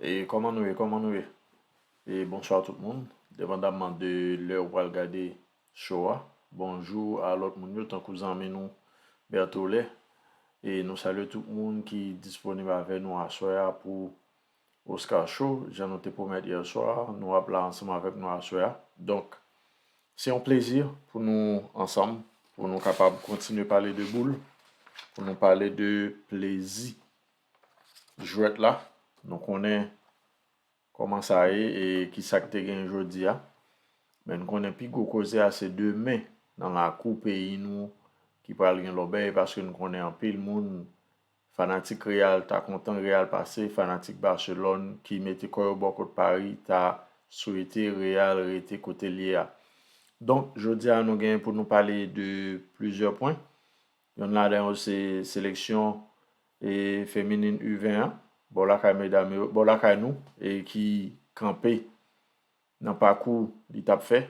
E kòman nou ye kòman nou ye e bonswa tout moun depandamman de lè ou pral gade cho a bonjou a lòt moun yo tankou zanmi nou Berthollet e nou salye tout moun ki disponib avè nou aswè a pou Oscar Show jan nou te pwomèt yèswa nou ap la ansanm avèk nou aswè a donk se yon plezi pou nou ansanm pou nou kapab kontinye pale de boul pou nou pale de plezi. jwèt la, nou konnen kòman sa ye e ki sa k te gen jodi a. Men n konnen pi gwo koze a se demen nan lakou peyi nou ki pral gen lòbèy paske n konnen anpil moun fanatik Real ta kontan Real pase, fanatik Barcelone ki mete kò yo bò kot Pari ta swete Real rete kote l ye a. Donk jodi a nou gen pou nou pale de plizyè pwen. Yonn ladan yo se seleksyon feminin u 20 an bò lakay medam yo, bò lakay nou ki kanpe nan pakou li t ap fè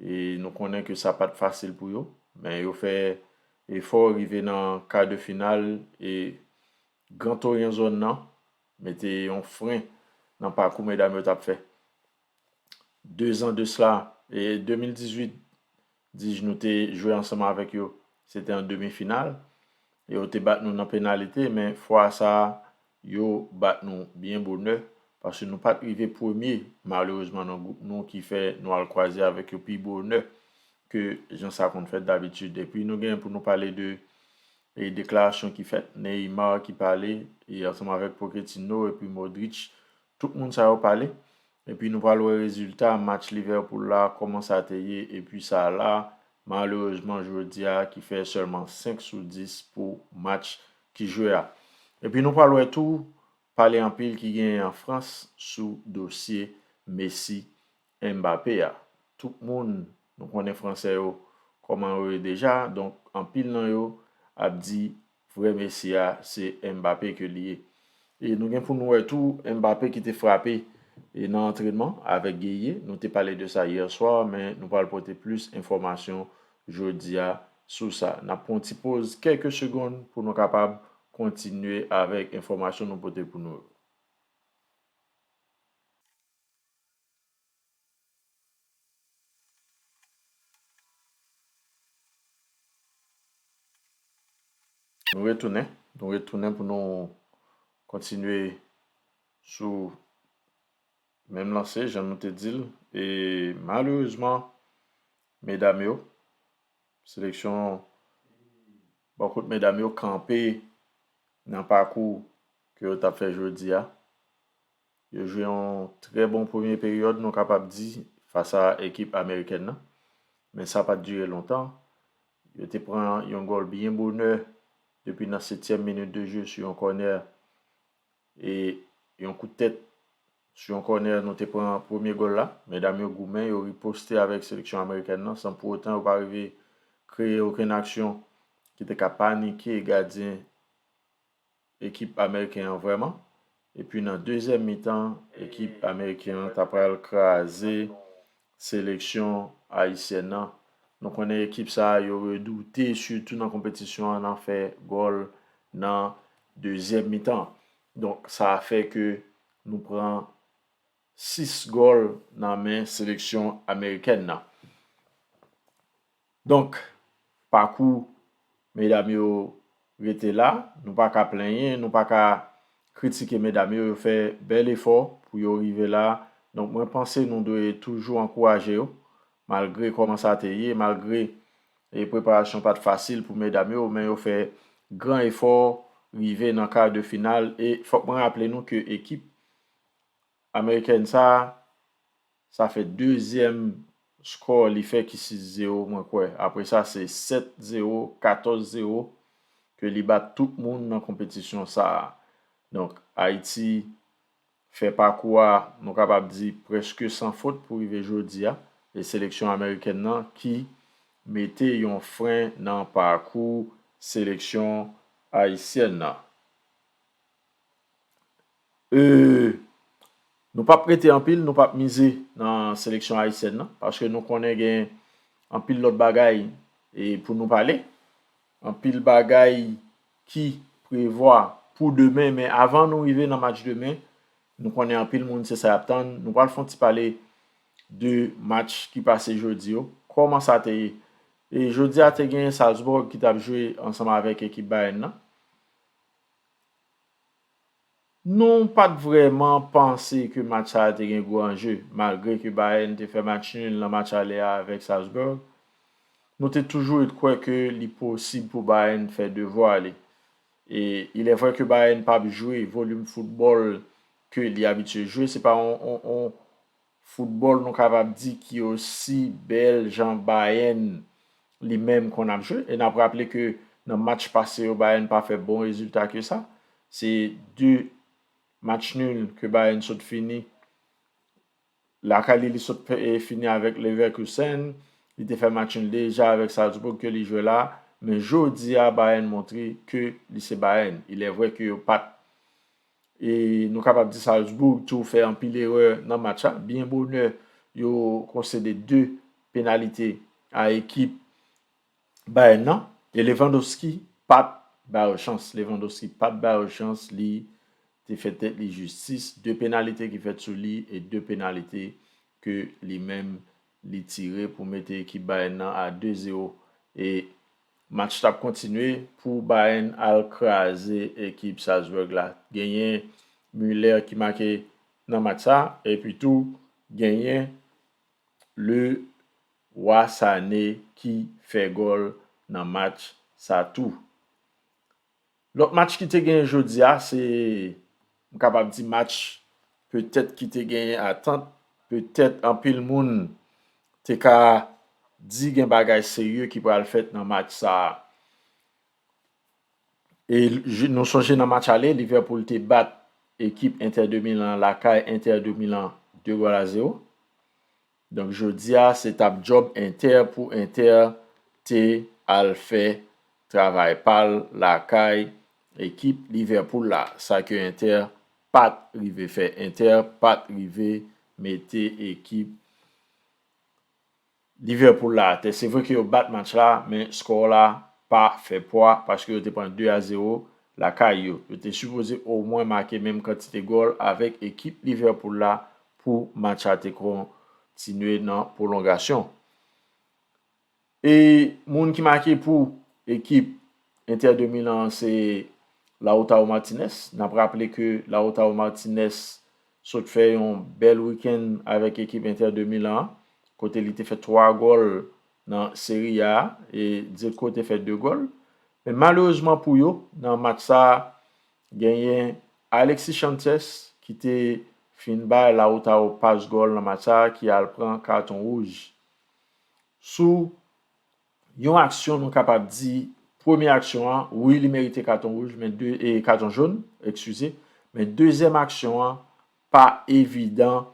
e nou konnen ke sa pa t fasil pou yo men yo fè efò rive nan kar de final e gran toryen zòn nan mete yon fren nan pakou medam yo t ap fè. Dezan de sla e 2018 Dij nou te jwe ansanm avèk yo, se te an demi final. Yo te bat nou nan penalite men fwa sa a yo bat nou byen bonè paske nou pat rive premye malerezman nan gwoup nou ki fè nou al kwaze avèk yo pi bonè ke jan sa konn fèt dabitid. Epi nou gen pou nou pale de deklarasyon ki fèt, Neymar ki pale ansanm avèk Pochettino epi Modric Tout moun sa yo pale epi nou pral wè rezilta match Liverpool la kòman sa te ye epi Salah malerezman jodia ki fè sèlman 5 sou 10 pou match ki jwe a. Epi nou pral wè tou pale anpil ki genyen an Frans sou dosye Messi Mbappé a. Tout moun nou konnen fransè yo kòman yo ye deja donk anpil nan yo ap di vrè Messi a se Mbappé ke li ye. E nou gen pou nou wè tou Mbappé ki te frape nan antrenman avèk Gueye, nou te pale de sa hier soir men nou pral pote plis enfòmasyon jodi a sou sa. N ap pran yon ti poz kèlke segonn pou nou kapab kontinye avèk enfòmasyon nou pote pou nou yo. Nou retounen, nou retounen pou nou kontinye sou menm lanse jan nou te di l e malerezman medam yo seleksyon bò kot medam yo kanpe nan pakou ke yo t ap fè jodi a. Yo jwe yon trè bon premye peryòd nou kapab di fas a ekip amerikèn nan, men sa pat dire lontan. Yo te pran yon gòl byen bonè depi nan setyèm minit de je sou yon kònè e yon kout tèt sou yon kònè nou te pran premye gòl la. Medam yo goumen, yo riposte avèk seleksyon amerikèn nan san pou otan yo pa rive kreye okenn aksyon ki te ka panike gadyen. ekip ameriken an vrèman epi nan dezyèm mitan ekip ameriken an ta pral kraze seleksyon ayisyèn nan nou konnen ekip sa yo redoute sitou nan konpetisyon an nan fè gòl nan dezyèm mitan donk sa fè ke nou pran 6 gòl nan men seleksyon amerikèn nan. Donk, pakou medam yo rete la, nou pa ka plenyen, nou pa ka kritike medam yo, yo fè bèl efò pou yo rive la, donk mwen panse nou dwe toujou ankouraje yo, malgre kòman sa te ye, malgre preparasyon pa t fasil pou medam yo, men yo fè gran efò rive nan kar de final, e fòk mwen raple nou ke ekip amerikèn sa, Sa fè dezyèm score li fè ki 6 zero mwen kwè. Apre sa se 7 zero, 14 zero ke li bat tout moun nan konpetisyon sa a. Donk Ayiti fè pakou a nou kapab di prèske san fot pou rive jodi a. E seleksyon amerikèn nan ki mete yon fren nan pakou seleksyon ayisyèn nan. Nou pap prete anpil, nou pap mize nan seleksyon ayisyèn nan, paske nou konnen gen anpil lòt bagay pou nou pale, anpil bagay ki prevwa pou demen, men avan nou rive nan match demen, nou konnen anpil moun se sa y ap tann, nou pral fon ti pale de match ki pase jodi yo, kòman sa te ye? Jodi a te gen Salzburg ki t ap jwe ansanm avèk ekip Bayern nan. Nou pa t vrèman panse ke match sa a te gen gwo anje. Malgre ke Bayern te fè match nul nan match ale a avèk Salzburg, nou te toujou ret kwè ke li posib pou Bayern fè devwa li. E ilèvrè ke Bayern p ap jwe volim foutbòl ke li abitye jwe, se pa yon Foutbòl nou kapab di ki osi bèl jan Bayern li menm konn ap jwe e n ap raple ke nan match pase yo Bayern pa fè bon rezilta ke sa. Se 2 match nul ke Bayern sot fini lakay li, li sot fini avèk Leverkusen, li te fè match nul deja avèk Salzbourg ke li jwe la, men jodi a Bayern montre ke li se Bayern. Ilèvrè ke yo pa t. E nou kapab di Salzbourg tou fè anpil erè nan match la. Byen bonè, yo konsede 2 penalite a ekip Bayern nan. E Lewandowski pa t ba yo chans. Lewandowski pa t ba yo chans. Li te fè tèt li jistis. 2 penalite ki fèt sou li e 2 penalite ke li menm li tire pou mete ekip Bayern nan a 2-0. E. Match tap kontinye pou Bayern al kraze ekip Salzburg la. Genyen Müller ki make nan match sa epi tou genyen Le Roi Sané ki fè gòl nan match sa tou. Lòt match ki te genyen jodi a se m kapab di match petèt ki te genyen atant, petèt anpil moun te ka di gen bagay serye ki pral fèt nan match sa a. E nou sonje nan match ale Liverpool te bat ekip Inter de Milan lakay Inter de Milan 2 gòl a 0. Donk jodia se tap job inter pou inter te al fè travay pal lakay ekip Liverpool la sa ke inter pat rive fè inter pat rive mete ekip Liverpool la atè se vre ke yo bat match la men score la pa fè pwa paske yo te pran 2 a 0 lakay yo yo te sipoze o mwen make menm kantite gòl avèk ekip Liverpool la pou match la te kontinye nan pwolongasyon. E moun ki make pou ekip Inter de Milan an se Lautaro Martinez. N ap raple ke Lautaro Martinez sot fè yon bèl wikenn avèk ekip Inter de Milan an kote li te fè 3 gòl nan Serie A e Dzeko te fè 2 gòl. Men malerezman pou yo nan match sa Genyen Alexis Chances ki te fin bay Lautaro pas gòl nan match sa ki al pran katon wouj. Sou Yon aksyon nou kapab di premye aksyon an wi li merite katon wouj men katon jón ekskize men dezyèm aksyon an pa evidan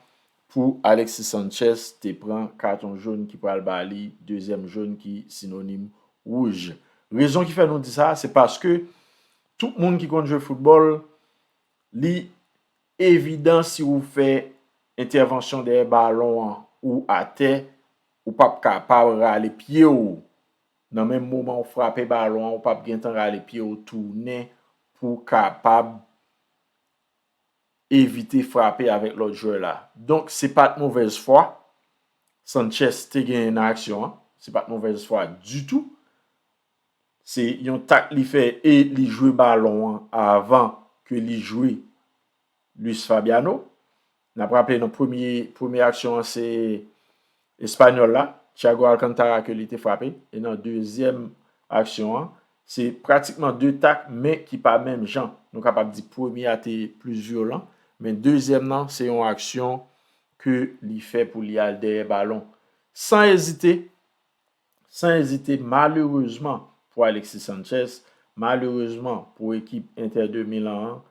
pou Alexis Sanchez te pran katon jón ki pral ba li dezyèm jón ki sinonim wouj. Rezon ki fè nou di sa se paske Tout moun ki konn jwe foutbòl, li evidan si ou fè entèvansyon dèyè balon an ou atè, ou p ap kapab rale pye ou nan menm moman ou frape balon an, ou p ap gentan rale pye ou tounen pou w kapab evite frape avèk lòt jwè la. Donk, se pa t movèz fwa Sanchez te genyen nan aksyon an, se pa t movèz fwa ditou. Se yon tak li fè e li jwe balon an avan ke li jwe Luis Fabiano. N ap raple nan premye aksyon an se Espanyòl la, Thiago Alcantara ke li te frape. E nan dezyèm aksyon an, se pratikman 2 tak men ki pa menm jan. Nou kapab di premye a te plis vyolan, men dezyèm nan se yon aksyon ke li fè pou li al dèyè balon. San ezite, San ezite, malerezman pou Alexis Sanchez, malerezman pou ekip Inter de Milan an,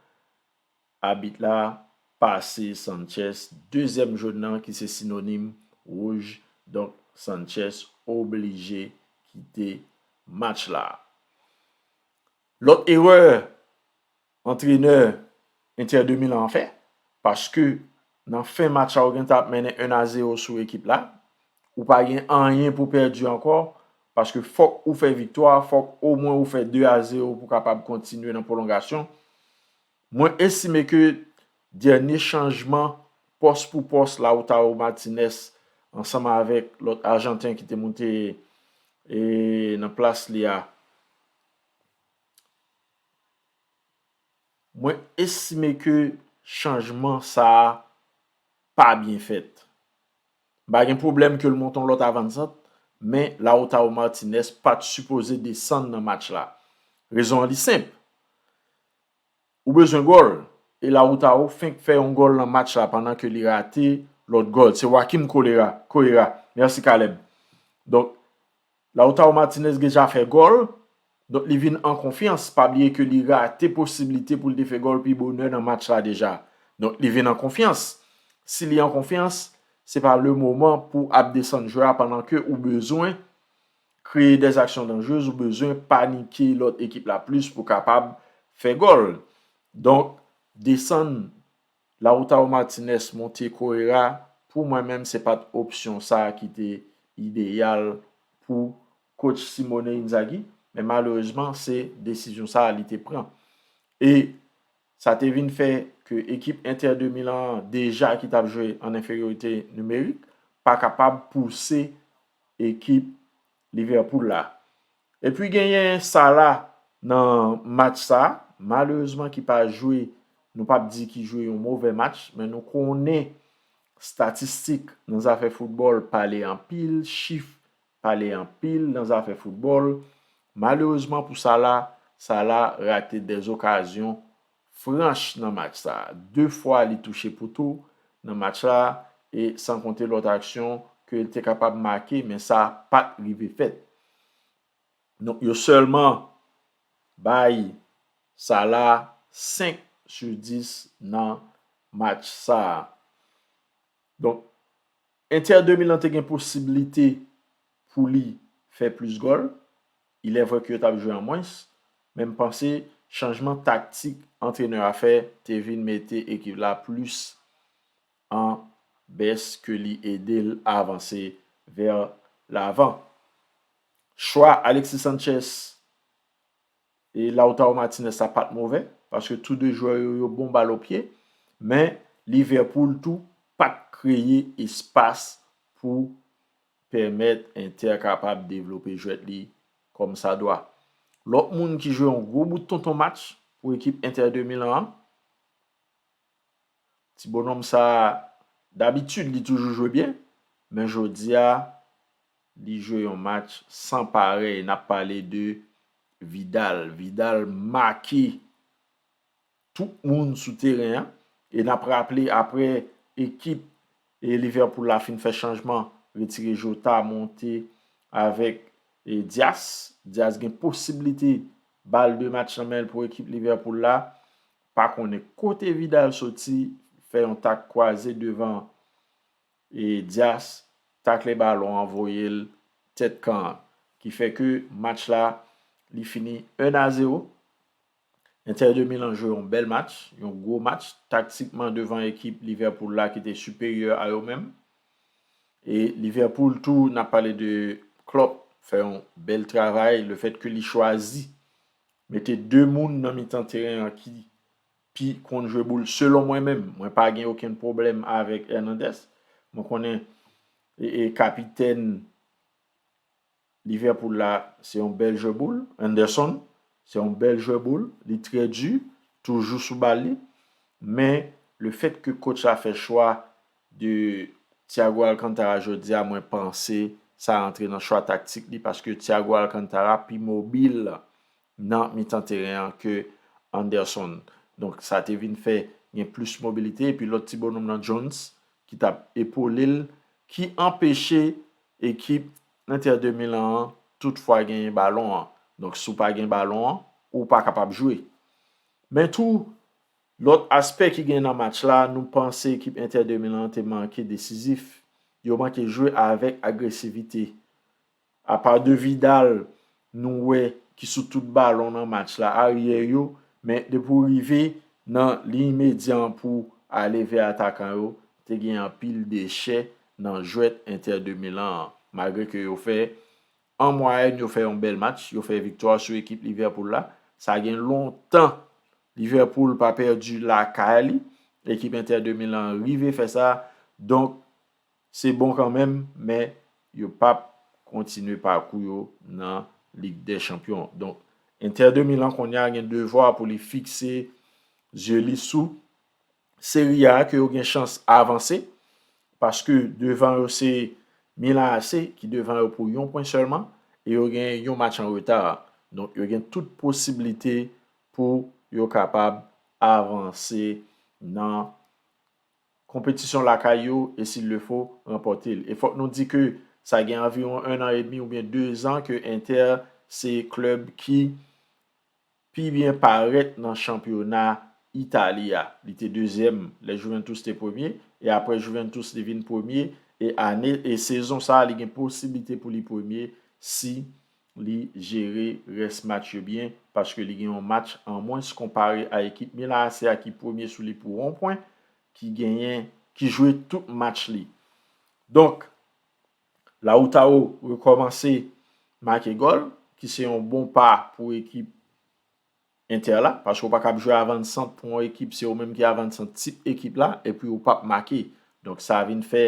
abit la pase Sanchez dezyèm jone nan ki se sinonim wouj, donk Sanchez oblije kite match la. Lòt erè antrenè Inter de Milan an fè, paske nan fen match la ou gentan ap mennen 1 a 0 sou ekip la, ou pa gen anyen pou pèdi ankò, paske fòk ou fè viktwa, fòk omwen ou fè 2 a 0 pou kapab kontinye nan pwolongasyon. Mwen estime ke dènye chanjman pòs pou pòs Lautaro Martinez ansanm avèk lòt ajanten ki te moute nan plas li a, Mwen estime ke chanjman sa a pa byen fèt. M pa gen pwoblèm ke l monte yon lòt avanzant, men Lautaro Martinez pa t sipoze desann nan match la. Rezon an li senp. Ou bezwen gòl? E Lautaro fenk fè yon gòl nan match la pandan ke li rate lòt gòl. Se Joaquim Correa. Merci Caleb. Donk, Lautaro Martinez deja fè gòl. Donk, li vin an konfyans. Pa bliye ke li rate posiblite pou li te fè gòl pi bonè nan match la deja. Donk, li vin an konfyans. Si li an konfyans, se pa le moman pou ap desann jwè a pandan ke ou bezwen. kreye des actions dangereuses ou bezwen panike lòt ekip la plis pou kapab fè gòl. Donk desann Lautaro Martinez monte Correira pou mwen menm se pat opsyon sa ki te ideyal pou coach Simone Inzaghi men malerezman se desizyon sa li te pran e sa te vin fè ke ekip Inter de Milan an deja ki tap jwe an enferyorite nimerik pa kapab pouse ekip Liverpool la. Epi genyen Sala nan match sa, malerezman ki pa jwe, nou pa p di ki jwe yon move match, men nou konnen statistik nan zafè foutbòl pale anpil, chif pale anpil nan zafè foutbòl. Malerezman pou Sala, Sala rate 2 okazyon franch nan match sa. 2 fwa li touche pouto nan match la e san konte lòt aksyon ke li te kapab make men sa pat rive fèt. Donk yo sèlman bay Salah 5 sou 10 nan match sa. Donk Inter de Milan te gen posiblite pou li fè plis gòl, ilèvre ke yo t ap jwe an mwens, men m panse chanjman taktik antrenè a fè te vin mete ekip la plis an bès ke li ede l avanse vè lavan. Chwa Alexis Sanchez E Lautaro Martinez la pat movè, paske tou 2 jwè yo yo bon bal o pye, men Liverpool tou pat kreye espas pou pèmèt Inter kapab devlope jwèt li kòm sa dwa. Lòt moun ki jwe yon gwo bout tonton match pou ekip Inter de Milan an, ti bonòm sa dabitid li toujou jwe byen, men jodi a Li jwe yon match san parèy nap pale de Vidal. Vidal make tout moun sou teren an e nap raple aprè ekip Liverpool la fin fè chanjman retire Jota monte avèk Dias. Dias gen posibilite bal de match nan menl pou ekip Liverpool la. Pa konnen kote Vidal soti fè yon tak kwaze devan E Dias takle balon an voye l tèt kan an ki fè ke match la li fini 1 a 0. Inter de Milan jwe yon bèl match, yon gwo match taktikman devan ekip Liverpool la ki te siperyè a yo menm. E Liverpool tou n ap pale de Klopp fè yon bèl travay le fèt ke li chwazi mete 2 moun nan mitan teren an ki pi konn jwe boul selon mwen menm mwen pa gen okenn pwoblèm avèk Hernandez mwen konnen e kapitèn Liverpool la se yon bèl jwè boul Henderson se yon bèl jwè boul li trè di toujou sou bal li men le fèt ke kotch la fè chwa de Thiago Alcantara jodi a mwen panse sa antre nan chwa taktik li paske Thiago Alcantara pi mobil nan mitan teren an ke Anderson. Donk sa te vin fè gen plis mobilite epi lòt ti bononm lan Jones ki t ap epole l ki anpeche ekip Inter de Milan an tout fwa genyen balon an. Donk si w pa gen balon an, ou pa kapab jwe. Men tou, lòt aspè ki gen nan match la, nou panse ekip Inter de Milan an te manke desizif. Yo manke jwe avèk agresivite. Apa de Vidal nou wè ki sou tout balon nan match la, aryè yo, men depi w rive nan liy medyan pou ale vè atakan yo, te gen anpil dechè nan jwèt Inter de Milan an. Malgre ke yo fè, an mwayèn yo fè yon bèl match, yo fè viktwa sou ekip Liverpool la, sa gen lontan Liverpool pa pèdi lakay li, ekip Inter de Milan rive fè sa, donk Se bon kanmenm, men yo pap kontinye pakou yo nan Lig dè Chanpyon. Donk, Inter de Milan kounye a gen devwa pou li fikse zye li sou Serie A ke yo gen chans avanse, paske devan yo se Milan AC ki devan yo pou yon pwen sèlman, e yo gen yon match an reta. Donk, yo gen tout posiblite pou yo kapab avanse nan konpetisyon lakay yo e s'il le faut, ranpòte l. E fòk nou di ke sa gen anviwon 1 an edmi oubyen 2 zan ke Inter se klèb ki pi byen parèt nan chanpyona Itali a. Li te dezyèm lè Juventus te premye e aprè Juventus li vin premye e ane e sezon sa li gen posiblite pou li premye si li jere rès match yo byen paske li gen yon match an mwens konpare a ekip Milan AC a ki premye sou li pou 1 pwen, ki genyen, ki jwe tout match li. Donk, Lautaro rekòmanse make gòl, ki se yon bon pa pou ekip Inter la, paske ou pa kab jwe avan sant pou yon ekip se ou menm ki avan sant tip ekip la epi ou pap make. Donk sa vin fè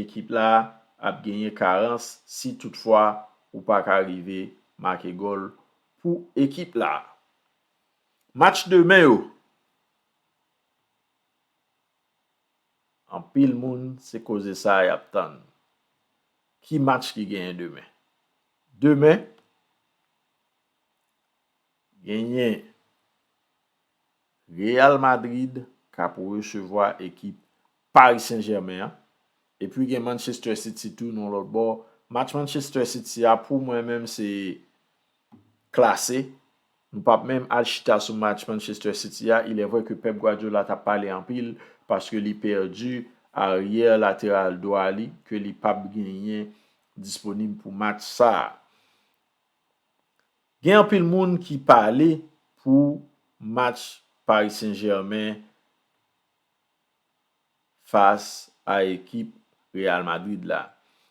ekip la ap genyen karans si tout fwa ou pa ka rive make gòl pou ekip la. Match demen yo, anpil moun se koze sa yap tann. Ki match ki genyen demen? Demen. Genyen Real Madrid k ap resevwa ekip Paris Saint Germain an. Epi gen Manchester City tou nan lòt bò. Match Manchester City a pou mwen menm se klase. Nou pa p menm al chita sou match Manchester City a. Ilèvre ke Pep Guardiola t ap pale anpil paske li pèdi aryè lateral dwa li ke li pa p genyen disponib pou match sa a. Gen anpil moun ki pale pou match Paris Saint Germain fas a ekip Real Madrid la.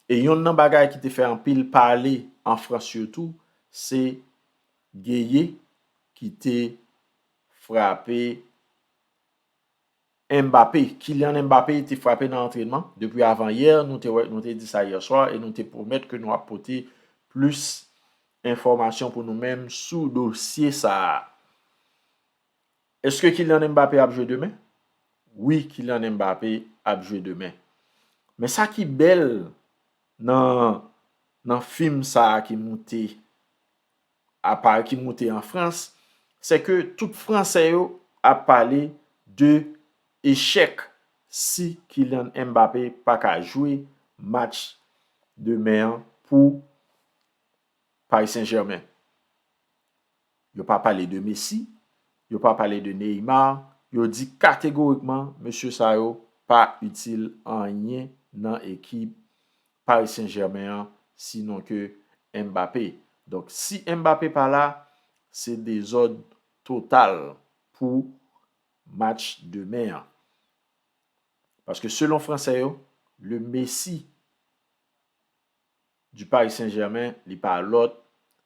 E yonn nan bagay ki te fè anpil pale an Frans sitou se Gueye ki te frape Mbappé, Kylian Mbappé te frape nan antrenman depi avan yè, nou te wè, nou te di sa yè swa e nou te pwomèt ke nou ap pote plis enfòmasyon pou nou menm sou dosye sa a. Eske Kylian Mbappé ap jwe demen? Wi Kylian Mbappé ap jwe demen. Men sa ki bèl nan nan fim sa a ki moute. Apal ki moute an Frans, se ke tout Fransè yo ap pale de echèk si Kylian Mbappé pa ka jwe match demen an pou Paris Saint-Germain. Yo pa pale de Messi, yo pa pale de Neymar, yo di kategorikman mesye sa yo pa itil anyen nan ekip Paris Saint Germain an si non ke Mbappé. Donk si Mbappé pa la se dezòd total pou match demen an. Paske selon fransè yo le Messi du Paris Saint Germain li pa lòt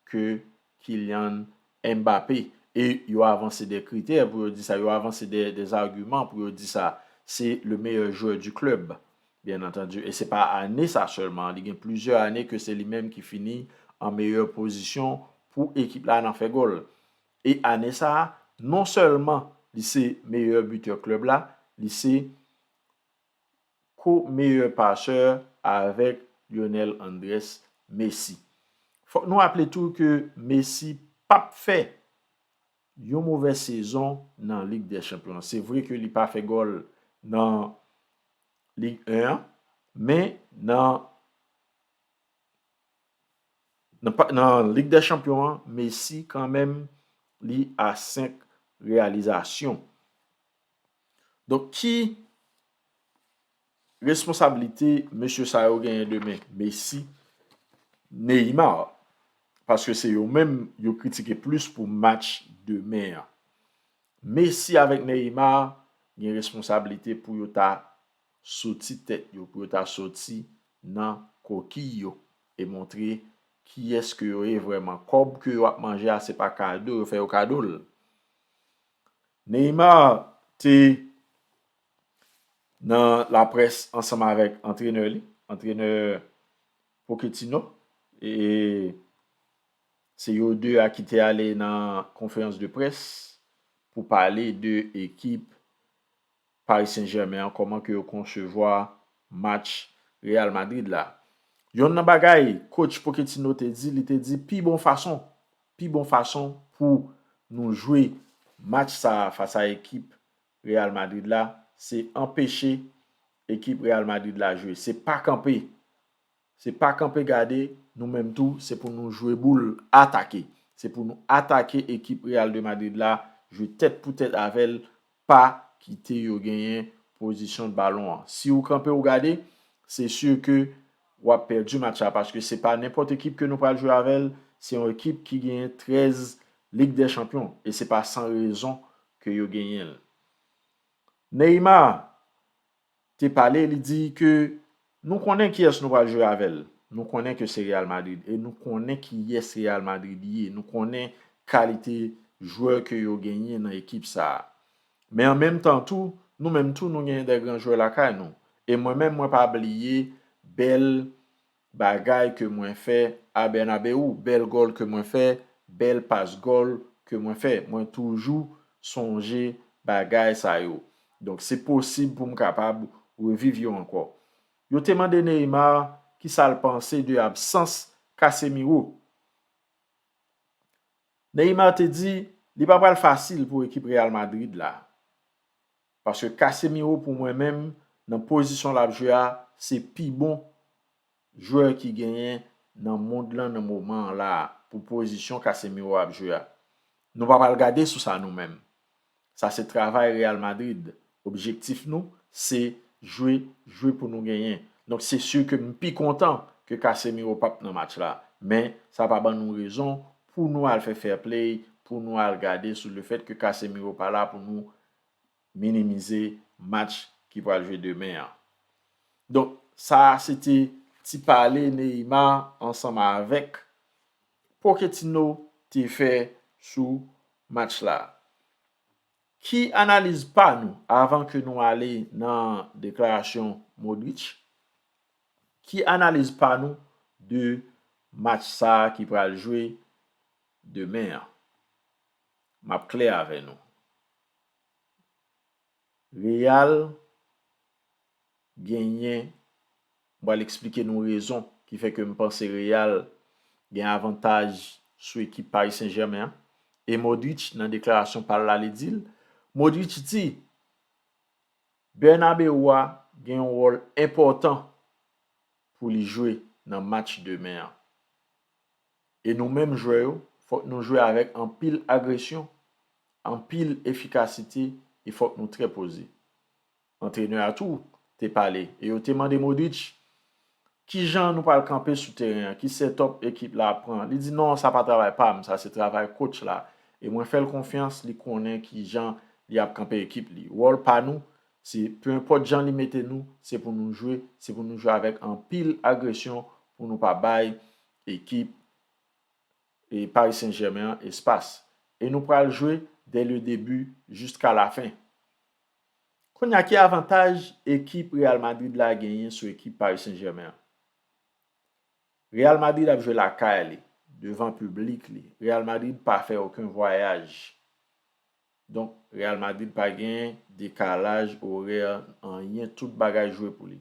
ke Kylian Mbappé. E yo avanse de kritè pou yo di sa, yo avanse de argument pou yo di sa. Se le meilleur joueur du club. Byen antandi, e se pa ane sa sèlman, li gen plizyè ane ke se li menm ki fini an meyè pozisyon pou ekip la nan fè gòl. E ane sa, non sèlman li se meyè bitè klèb la, li se ko-meyè pasè avèk Lionel Andrés Messi. Fòk nou raple tou ke Messi pap fè yon movè sezon nan Lig dè Chanpyon. Se vre ke li pa fè gòl nan Lig 1 an, men nan nan Lig dè chanpyon an, Messi kan menm li a 5 reyalizasyon. Donk ki responsablite mesye sa yo genyen demen? Messi, Neymar, paske se yo menm yo kritike plis pou match demen an. Messi avèk Neymar gen responsablite pou yo ta soti tèt yo, pou yo ta soti nan kokiy yo e montre kiyès ke yo ye vrèman. Kòb ke yo ap manje a se pa kado yo fè yo kado l. Neymar te nan laprès ansanm avèk antrenè li, antrenè Pochettino e Se yo 2 a ki te ale nan konferans de près pou pale de ekip Paris Saint Germain an kòman ke yo konsevwa match Real Madrid la. Yonn nan bagay coach Pochettino te di li te di pi bon fason pi bon fason pou nou jwe match sa a fas a ekip Real Madrid la se anpeche ekip Real Madrid la jwe se pa kanpe Se pa kanpe gade, nou menm tou, se pou nou jwe boul, atake. Se pou nou atake ekip Real de Madrid la, jwe tèt pou tèt avè l, pa kite yo genyen pozisyon balon an. Si ou kanpe ou gade, se sur ke w ap pèdi match la paske se pa nenpòt ekip ke nou pral jwe avè l, se yon ekip ki genyen 13 Lig dè Chanpyon e se pa san rezon ke yo genyen l. Neymar, te pale li di ke nou konnen kiyès nou pral jwe avè l, nou konnen ke se Real Madrid e nou konnen kiyès Real Madrid ye, nou konnen kalite jwè ke yo genyen nan ekip sa a. Men an menm tan tou, nou menm tou nou genyen dè gran jwè lakay nou e mwen menm mwen pa bliye bèl Bagay ke mwen fè a Bernabeu bèl gòl ke mwen fè bèl pas gòl ke mwen fè mwen toujou sonje bagay sa yo donk se posib pou m kapab reviv yo ankò Yo te mande Neymar ki sa l panse de absans Casemiro Neymar te di li pa pral fasil pou ekip Real Madrid la. Paske Casemiro pou mwen menm nan pozisyon lap jwe a se pi bon jwè ki genyen nan mond lan nan moman an la pou pozisyon Casemiro ap jwe a. Nou pa pral gade sou sa nou menm. Sa se travay Real Madrid. Objektif nou se jwe jwe pou nou genyen. Donk se sur ke m pi kontan ke Casemiro pap nan match la. Men sa pa ban nou rezon pou nou al fè fair play, pou nou al gade sou le fèt ke Casemiro pa la pou nou minimize match ki pral jwe demen an. Donk sa a se te ti pale Neymar ansanm avèk Pochettino te fè sou match la. Ki analiz pa nou avan ke nou ale nan deklarasyon Modric? Ki analiz pa nou de match sa a ki pral jwe demen an? M ap klè avè nou. Real genyen M pral eksplike nou rezon ki fè ke m panse Real gen avantaj sou ekip Paris Saint Germain an. E Modric nan deklarasyon pa l la li di l, Modric di, Bernabeu a gen yon wòl enpòtan pou li jwe nan match demen an. E nou menm jwè yo, fòk nou jwe avèk anpil agresyon, anpil efikasite e fòk nou trè poze. Antrenè a tou te pale e yo te mande Modric, Kijan nou pral kanpe sou teren an, ki setòp ekip la ap pran? Li di, Non, sa pa travay pa m, sa se travay kotch la e mwen fè l konfyans, li konnen kijan li ap kanpe ekip li. Wòl pa nou, se pe enpòt jan li mete nou, se pou nou jwe, se pou nou jwe avèk anpil agresyon pou nou pa bay ekip Paris Saint Germain an espas e nou pral jwe dè le debi jiska la fen. Kounya ki avantaj ekip Real Madrid la genyen sou ekip Paris Saint Germain an? Real Madrid ap jwe lakay li, devan piblik li, Real Madrid pa fè oken vwayaj. Donk Real Madrid pa gen dekalaj orè anyen tout bagay jwe pou li.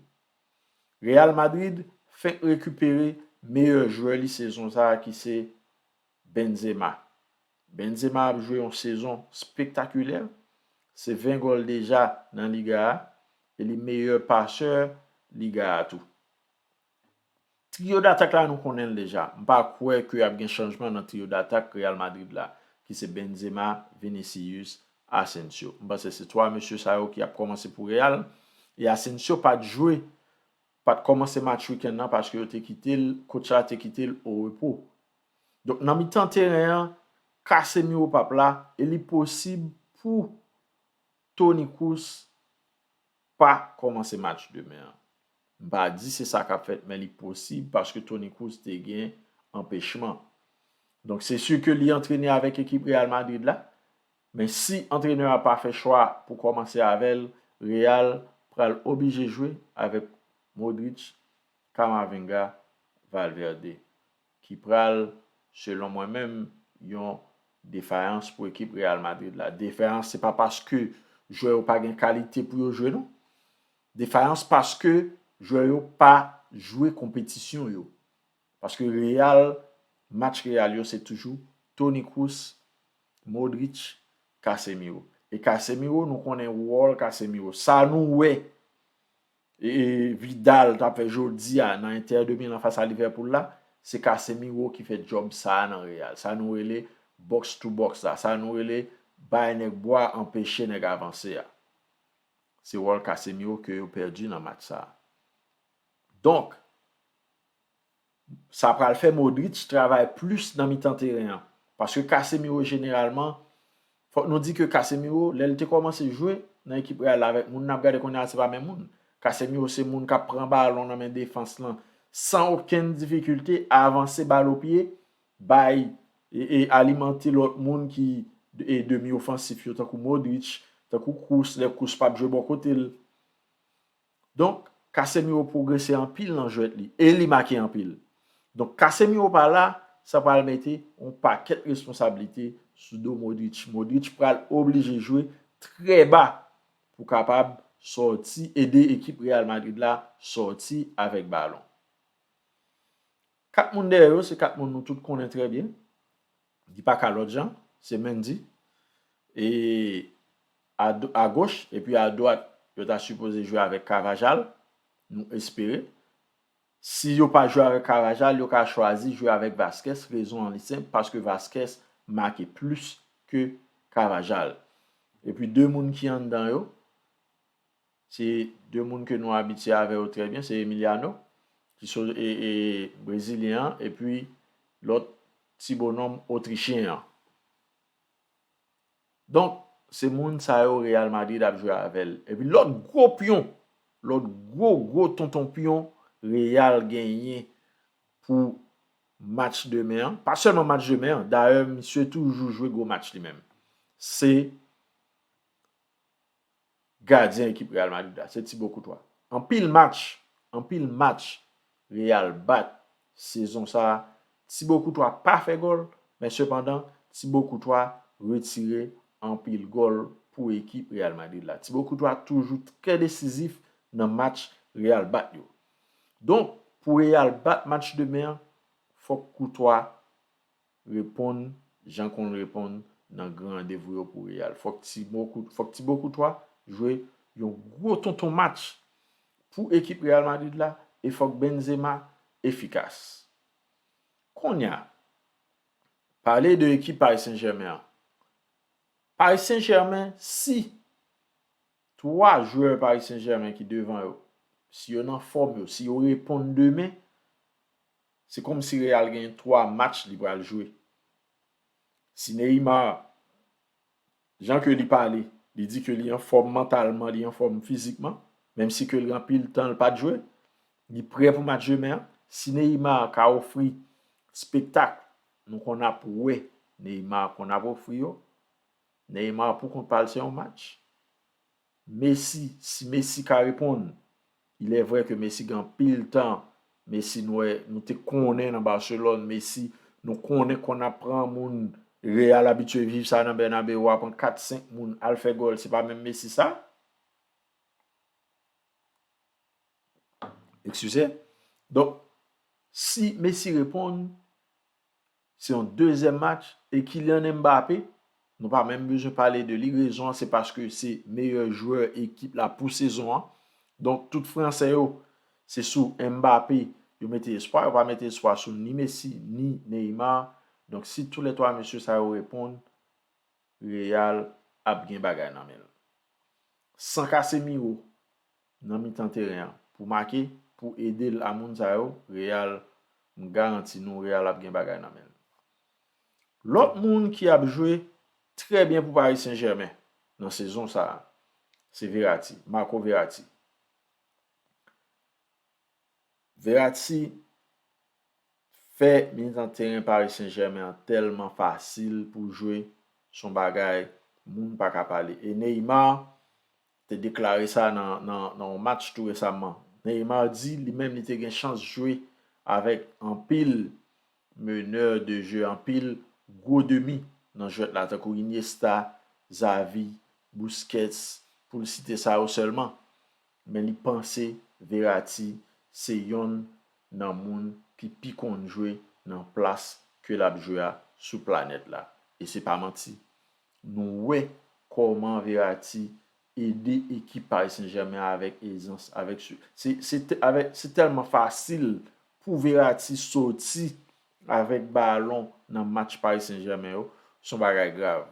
Real Madrid fenk rekipere meyè jwè li sezon sa ki se Benzema. Benzema ap jwe yon sezon spektakilè, se 20 gòl deja nan liga a e li meyè pasè liga a tou. Trio d'attaque la nou konnen l deja, m pa kwè ke ap gen chanjman nan trio d'attaque Real Madrid la ki se Benzema, Vinicius, Asensio. M panse se 3 mesye sa yo ki ap kòmanse pou Real e Asensio pat jwe, pat kòmanse match week-end nan paske yo te kite l, coach la te kite l o repo. Donk nan mitan teren an, Casemiro pap la e li posib pou Toni Kroos pa kòmanse match demen an. M pa di se sa k ap fèt men li posib paske Toni Kroos te gen anpechman. Donk se si ke li antrene avèk ekip Real Madrid la men si antrenè a pa fè chwa pou kòmanse avè l Real pral oblije jwe avèk Modric, Camavinga, Valverde. ki pral, selon mwen menm, yon defayans pou ekip Real Madrid la. Defayans se pa paske jwè yo pa gen kalite pou yo jwe non. Defayans paske jwè yo pa jwe konpetisyon yo. Paske Real, match Real yo se toujou Toni Kroos, Modric, Casemiro. E Casemiro nou konnen wòl Casemiro. Sa nou wè Vidal tap fè jodia nan Inter de Milan fas a Liverpool la, se Casemiro ki fè djòb sa a nan Real. Sa nou rele box to box la, sa nou rele bay nèg bwa anpeche nèg avanse a. Se wòl Casemiro ke yo pèdi nan match sa a. Donk. Sa pral fè Modric travay plis nan mitan teren an. Paske Casemiro jeneralman, fòk nou di ke Casemiro lè l te kòmanse jwe nan ekip Real la avèk moun n ap gade kounye a se pa menm moun. Casemiro se moun k ap pran balon nan men defans lan san okenn difikilte, avanse bal o pye, bay e alimante lòt moun ki demi ofansif yo tankou Modric, tankou Kroos lè Kroos p ap jwe bò kote l. Donk Casemiro pwogrese anpil nan jwèt li e li make anpil. Donk Casemiro pa la, sa pral mete yon pakèt responsablite sou do Modric. Modric pral oblije jwe trè ba pou kapab sòti, ede ekip Real Madrid la sòti avèk balon. 4 moun dèyè yo se 4 moun nou tout konnen trè byen. Li pa ka lòt jan, se Mendy e a goch epi a dwat yo ta sipoze jwe avèk Carvajal, nou espere. Si yo pa jwe avèk Carvajal, yo ka chwazi jwe avèk Vazquez, rezon an li senp paske Vazquez make plis ke Carvajal. Epi 2 moun ki anndan yo, Se 2 moun ke nou abitye avè yo trè byen, se Emiliano ki so e brezilyen an epi lòt ti bonòm otrichyen an. Donk, se moun sa yo Real Madrid ap jwe avè l. Epi lòt gwo pyon, lòt gwo gwo tonton pyon Real genyen pou match demen an, pa sèlman match demen an, dayè misye toujou jwe gwo match li menm, se Gadyen ekip Real Madrid la se Thibaut Courtois. Anpil match, anpil match Real bat sezon sa a, Thibaut Courtois pa fè gòl, men sepandan Thibaut Courtois retire anpil gòl pou ekip Real Madrid la. Thibaut Courtois toujou trè desizif nan match Real bat yo. Donk, pou Real bat match demen an, fòk Courtois Reponn jan konn reponn nan gran randevou yo pou Real. Fòk Thibaut Courtois jwe yon gwo tonton match pou ekip Real Madrid la e fòk Benzema efikas. Konnya, pale de ekip Paris Saint Germain an. Paris Saint Germain si 3 jwè Paris Saint Germain ki devan yo, si yo nan fòm yo, si yo reponn demen, Se kòmsi Real gen 3 match li pral jwe. Si Neymar, jan ke li pale, li di ke li anfòm mantalman, li anfòm fizikman, menm si ke l gen anpil tan l pat jwe, li prè pou match demen an. Si Neymar ka ofri spektak nou konn ap wè Neymar konn ap ofri yo, Neymar pou kont pa l se yon match. Messi, si Messi ka reponn. Il est vrai que Messi gen anpil tan Messi nou wè nou te konnen nan Barcelone Messi nou konnen konn ap pran moun Real abitye viv sa nan Bernabeu wa pran 4 5 moun al fè gòl se pa menm Messi sa excusez donk si Messi reponn Se yon dezyèm match e Kylian Mbappé nou pa menm bezwen pale de li rezon an se paske se meyè jwè ekip la pou sezon an donk tout fransè yo se sou Mbappé yo mete espwa yo pa mete espwa sou ni Messi ni Neymar donk si tou lè 3 mesye sa yo reponn Real ap gen bagay nan men l san Casemiro. nan mitan teren an pou make pou edel a moun sa yo real m garanti nou real ap gen bagay nan menl lòt moun ki ap jwe trè byen pou Paris Saint Germain nan sezon sa se Verati Marco Verati Verati fè mitan teren Paris Saint Germain an tèlman fasil pou jwe son bagay moun paka pale e Neymar te deklare sa nan yon match tou resamman. Neymar di li menm li te gen chans jwe avèk anpil meneur de jeu, anpil gwo demi nan jwèt la tankou Iniesta, Xavi, Busquets pou l site sa yo sèlman. Men li panse Verratti se yonn nan moun ki pi konn jwe nan plas ke l ap jwe a sou planèt la. E se pa manti. Nou wè kòman Verratti ede ekip Paris Saint Germain avèk ezans. Se tèlman fasil pou Verratti soti avèk balon nan match Paris Saint Germain yo, se yon bagay grav.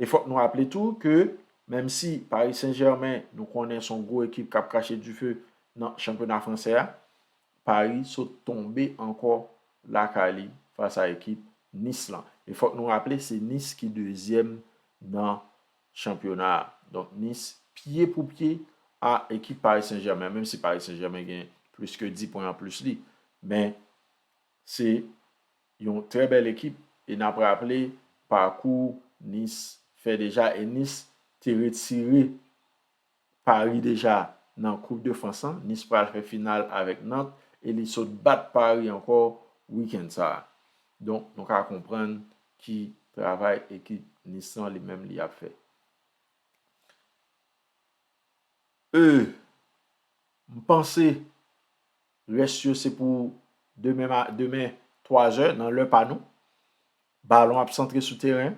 E fòk nou raple tou ke menm si Paris Saint Germain nou konnen se yon gwo ekip k ap krache dife nan chanpyona fransè a, Paris sot tonbe ankò lakay li fas a ekip Nice lan. E fòk nou raple se Nice ki dezyèm nan chanpyona a. Donk Nice pye pou pye a ekip Paris Saint Germain menm si Paris Saint Germain gen plis ke 10 pwen anplis li. Men se yon trè bèl ekip e n ap raple pakou Nice fè deja e Nice te retire Paris deja nan koup de frans lan, Nice pral fè final avèk Nantes e li sot bat Paris ankò weekend sa. Donk nou ka konprann ki travay ekip Nice lan li menm li ap fè. Euhh m panse rès yo se pou demen demen 3 zè nan lè pa nou. Balon ap santre sou teren.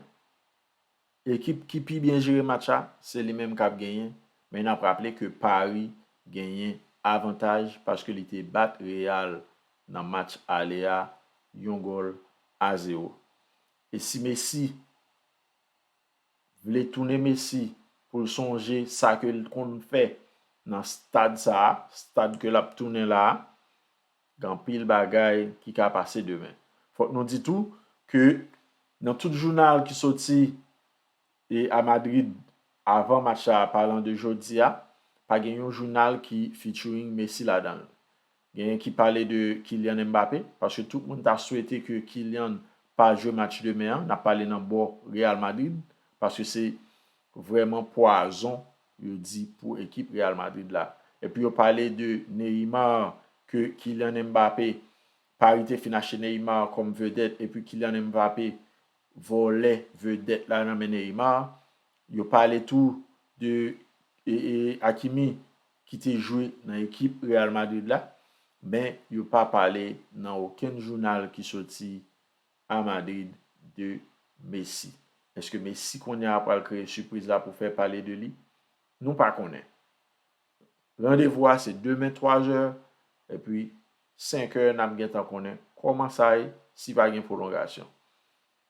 Ekip ki pi byen jere match la, se li menm kap genyen, men nap raple ke Paris genyen avantaj paske li te bat Real nan match ale a yon gòl a zewo. E si Messi vle tounen Messi poul sonje sa kel t konn fè nan stad sa a, stad ke lap tounen la a, Gen anpil bagay ki ka pase demen. Fòk nou di tou ke nan tout jounal ki soti a Madrid avan match la apalan de jodi a, pa gen yon jounal ki featuring Messi ladan l. Genyen ki pale de Kylian Mbappé, paske tout moun ta swete ke Kylian pa jwe match demen an, n ap pale nan bò Real Madrid, paske se vrèman pwazon yo di pou ekip Real Madrid la. Epi yo pale de Neymar ke Kylian Mbappé, Paris te fin achte Neymar kòm vedèt epi Kylian Mbappé vòlè vedèt la nan men Neymar. Yo pale tou de Hakimi ki te jwe nan ekip Real Madrid la, men yo pa pale nan okenn jounal ki soti A Madrid de Messi. Eske Messi kounye a pral kreye sipriz la pou fè pale de li? Nou pa konnen. Randevou a se demen 3 zè, epi 5 è n ap gentan konnen kòman sa ye si pa gen pwolongasyon.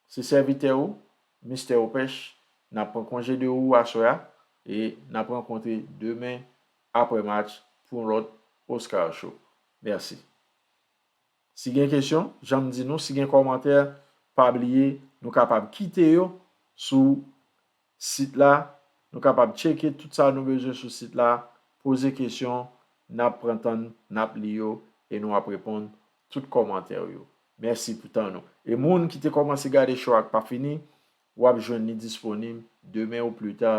Se sèvitè ou, Mister Opèch, n ap pran konje de ou aswè a e n ap rankontre demen aprè match pou yon lòt Oscar Show. Mèsi. Si gen kesyon, jan m di nou, si gen kòmantè, pa bliye nou kapab kite yo sou sit la. Nou kapab tcheke tout sa nou bezwen sou sit la, poze kesyon, n ap pran tan n, n ap li yo e nou ap reponn tout kòmantè w yo. Mèsi pou tan nou. E moun ki te kòmanse gade show a k pa fini, W ap jwenn li disponib demen ou pli ta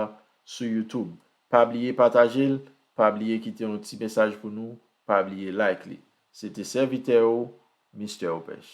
sou YouTube. Pa bliye pataje l, pa bliye kite yon ti mesaj pou nou, pa bliye like li. Se te sèvitè ou, Mister Opèch.